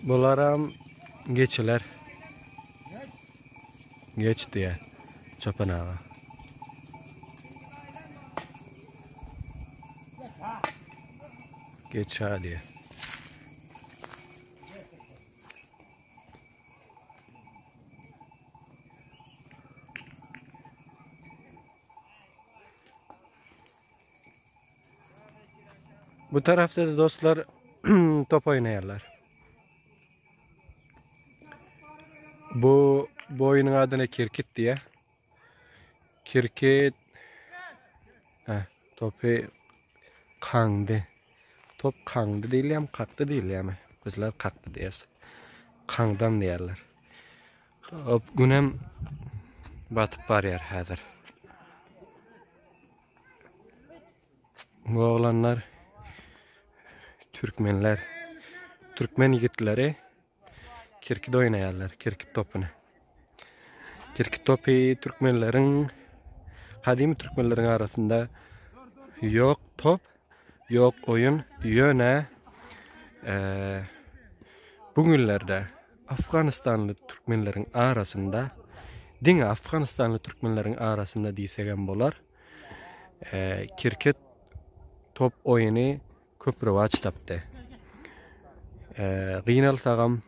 Bularam geçiler. Geç diye çopan ağa. Geç ha diye. Bu tarafda da dostlar top oýnaýarlar. Bu bu oýnuň adyna kirkit diýýär. Kirkit Hä, topy kaňdy. Top kaňdy diýilýärmi, kakdy diýilýärmi? Bizler kakdy diýýäs. Kaňdam diýýärler. Hop günem batyp barýar häzir. Oglanlar türkmenler türkmen ýigitleri kirkit oýnaýarlar, kirkit topuny. Kirkit topy türkmenleriň gadymy türkmenleriň arasynda ýok top. Ýok oýun ýöne bu günlerde Afganistanly türkmenleriň arasynda diňe Afganistanly türkmenleriň arasynda diýsek hem bolar. Kirket top oýuny köp rowaç tapdy. Gynalsagam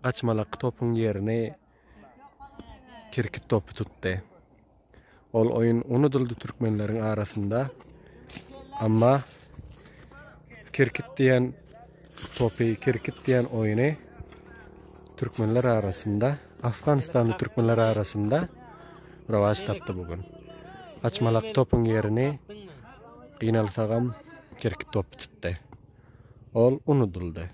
gaçmalak topuň ýerini Kirkit topy tutdy. Ol oýun unudyldy türkmenleriň arasynda. Amma kirkit diýen topy, kirkit diýen oýny türkmenler arasynda, Afganistanly türkmenler arasynda rawaç tapdy bu gün. Açmalak topyň ýerini gynalsagam kirkit topy tutdy. Ol unudyldy.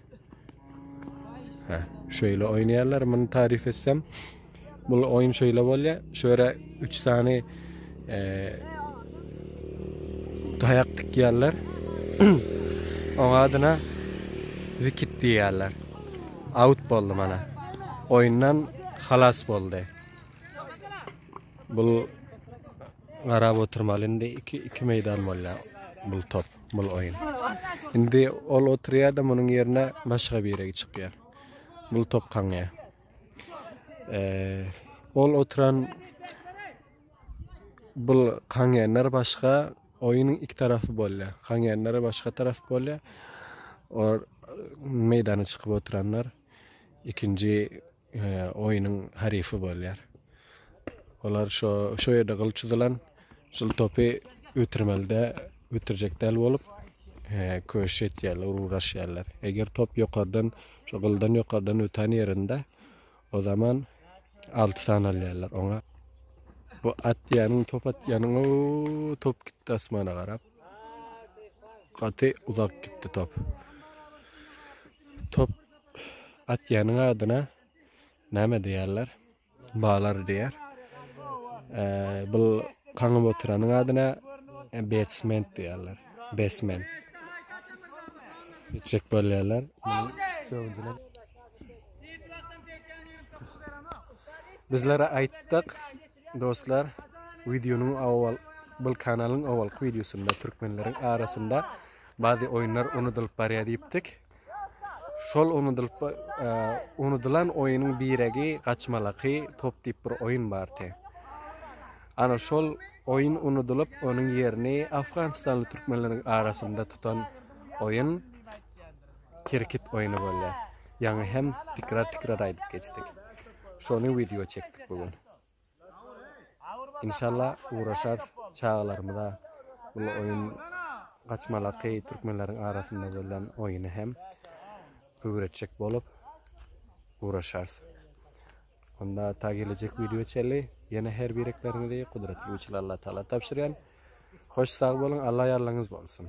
Hä, şöýle oýnaýarlar, muny tarif etsem. Bu oýun şöýle bolýar. Şöre 3 sany e, daýak dikýärler. Oň adyna wikit diýýärler. Out boldy mana. Oýundan halas boldy. Bu garap oturmaly indi 2 2 meýdan bolýar bu top. bul oýun. Indi ol oturýar-da munuň ýerine başga biregi çykýar. Bul top kaňýar. Ol oturan bul kaňýanlar başga oýunyň iki tarapy bolýar. Kaňýanlar başga tarap bolýar. Or meýdana çykyp oturanlar ikinji oýnuň haryfy bolýar. Olar şo şo ýerde gyl çyzylan şol topy ötürmelde ötürjek däl bolup köş etýärler, ugraşýarlar. Eger top ýokardan, şo gyldan ýokardan ötän ýerinde o zaman 6 sany alýarlar oňa. Bu atýanyň, top atýanyň, o top gitdi asmana garap. Gaty uzak gitdi top. Top Atýanyň adyna näme diýýärler? Balar diýýär. Bu kaňyp oturanyň adyna basement diýýärler. Basement. Içek bolýarlar. Bizlere aýtdyk dostlar, wideonyň awal bu kanalyň awalky wideosynda türkmenleriň arasynda bazı oýunlar unudylyp barýar diýipdik. Şol unudylan oýunyň biregi gaçmalaky top diýip bir oýun bardy. Ana şol oýun unudylyp, onuň ýerini afganistanly türkmenleriň arasynda tutan oýun kirkit oýuny bolýar. Ýaňy hem tikrar-tikrar aýdyp geçdik. Şony wideo çekdik bu gün. Inşalla ugraşar çagalarymyza bul oýun gaçmalaky türkmenleriň arasynda bolýan oýuny hem öwretjek bolup ugraşarys. Onda ta gelejek wideo çenli ýene her birekleriňizi gudratly güýçli Alla Taala tabşyrýan. Hoş sag boluň Alla ýarlygyňyz bolsun.